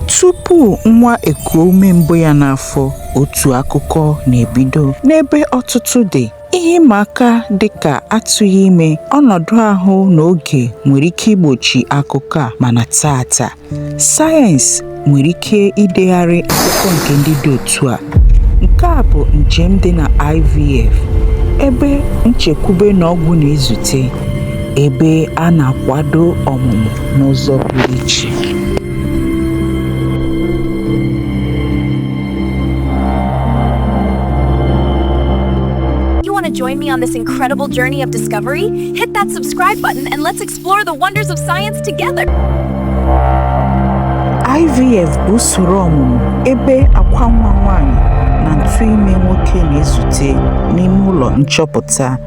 Tupu nwa ekuo ume mbụ ya n'afọ, otu akụkọ na-ebido. N'ebe ọtụtụ dị, ihe ịma aka dị ka atụghị ime, ọnọdụ ahụ na oge nwere ike igbochi akụkọ a mana taata, sayensị nwere ike idegharị akụkọ nke ndị dị otu a. Nke a bụ njem dị na IVF, ebe nchekwube na ọgwụ na-ezute, ebe a na-akwado ọmụmụ n'ụzọ pụrụ iche. join me on this incredible journey of discovery? Hit that subscribe button and let's explore the wonders of science together. IVF bụ usoro ọmụmụ ebe akwa nwa nwaanyị na ntụ ime nwoke na-ezute n'ime ụlọ nchọpụta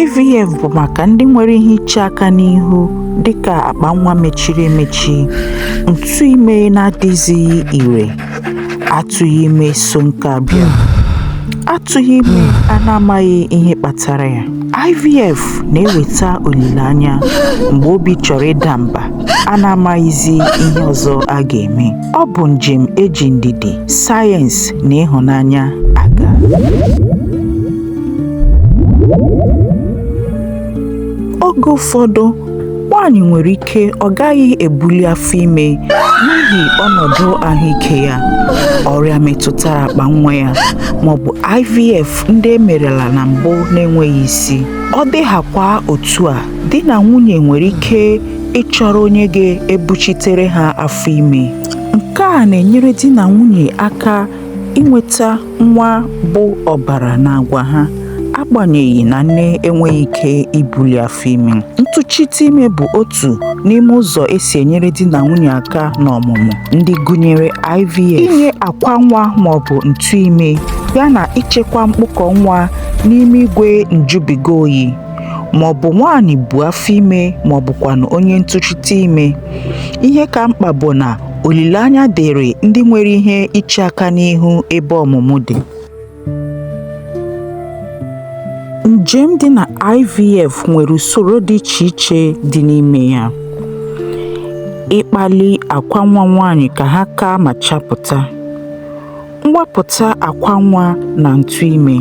IVF bụ maka ndị nwere ihe iche aka n'ihu dịka akpa nwa mechiri emechi, ntụ ime na-adịzighị ire, atụghị ime so nka abịa. Atụghị ime a na-amaghị ihe kpatara ya. IVF na-eweta olileanya mgbe obi chọrọ ịda mba a na-amaghịzi ihe ọzọ a ga-eme. Ọ bụ njem e ji ndidi, sayensị na ịhụnanya aga. oge ụfọdụ nwaanyị nwere ike ọ gaghị ebuli afọ ime n'ihi ọnọdụ ahụike ya ọrịa metụtara akpa nwa ya maọbụ IVF ndị e merela na mbụ na-enweghị isi ọ dịghakwa otu a di na nwunye nwere ike ịchọrọ onye ga-ebuchitere ha afọ ime nke a na-enyere di na nwunye aka inweta nwa bụ ọbara na agwa ha agbanyeghị na nne enweghị ike ibuli afọ ime ntụchite ime bụ otu n'ime ụzọ e si enyere di na nwunye aka n'ọmụmụ ndị gụnyere IVF inye akwa nwa maọbụ ntụ ime yana ichekwa mkpụkọ nwa n'ime igwe njụbiga oyi maọbụ nwaanyị bu afọ ime maọbụkwanụ onye ntụchite ime ihe ka mkpa bụ na Olileanya dịrị ndị nwere ihe iche aka n'ihu ebe ọmụmụ dị. Njem dị na IVF nwere usoro dị iche iche dị n'ime ya. Ịkpali akwa nwa nwaanyị ka ha kaa ma chapụta. mwapụta akwa nwa na ntụ ime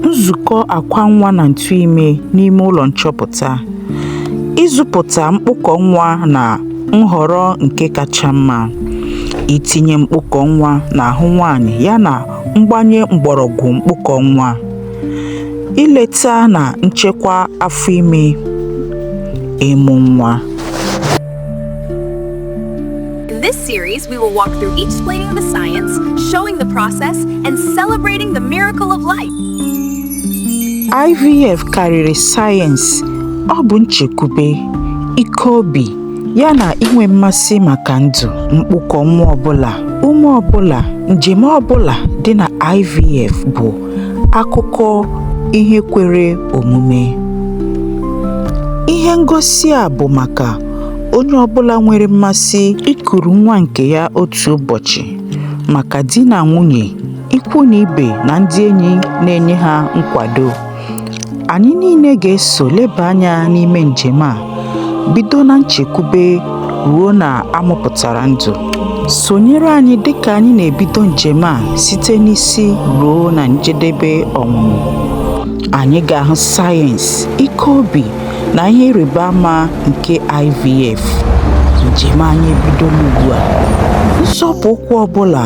nzukọ akwa nwa na ntụ ime n'ime ụlọ nchọpụta ịzụpụta mkpụkọ nwa na nhọrọ nke kacha mma itinye mkpụkọ nwa n'ahụ nwaanyị yana mgbanye mgbọrọgwụ mkpụkọ nwa ileta na nchekwa afọ ime ịmụ nwa In this series, we will walk through explaining the science, showing the process, and celebrating the miracle of life. IVF karịrị sayensị, ọ bụ nchekwube, ike obi, ya na inwe mmasị maka ndụ, mkpụkọ nwa ọbụla, ume ọbụla, njem ọbụla dị na IVF bụ akụkọ ihe kwere omume ihe ngosi a bụ maka onye ọbụla nwere mmasị ikuru nwa nke ya otu ụbọchị maka di na nwunye ikwu na ibe na ndị enyi na-enye ha nkwado Anyị niile ga-eso leba anya n'ime njem a, bido na nchekwube ruo na a mụpụtara ndụ. Sonyere anyị dịka anyị na-ebido njem a site n'isi ruo na njedebe ọmụmụ. Anyị ga-ahụ sayensị, ike obi na ihe ịrịba ama nke IVF. Njem anyị ebidola ugbu a. Nzọpụ ụkwụ ọ bụla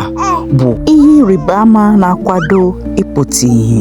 bụ ihe ịrịba ama na-akwado ịpụta ihe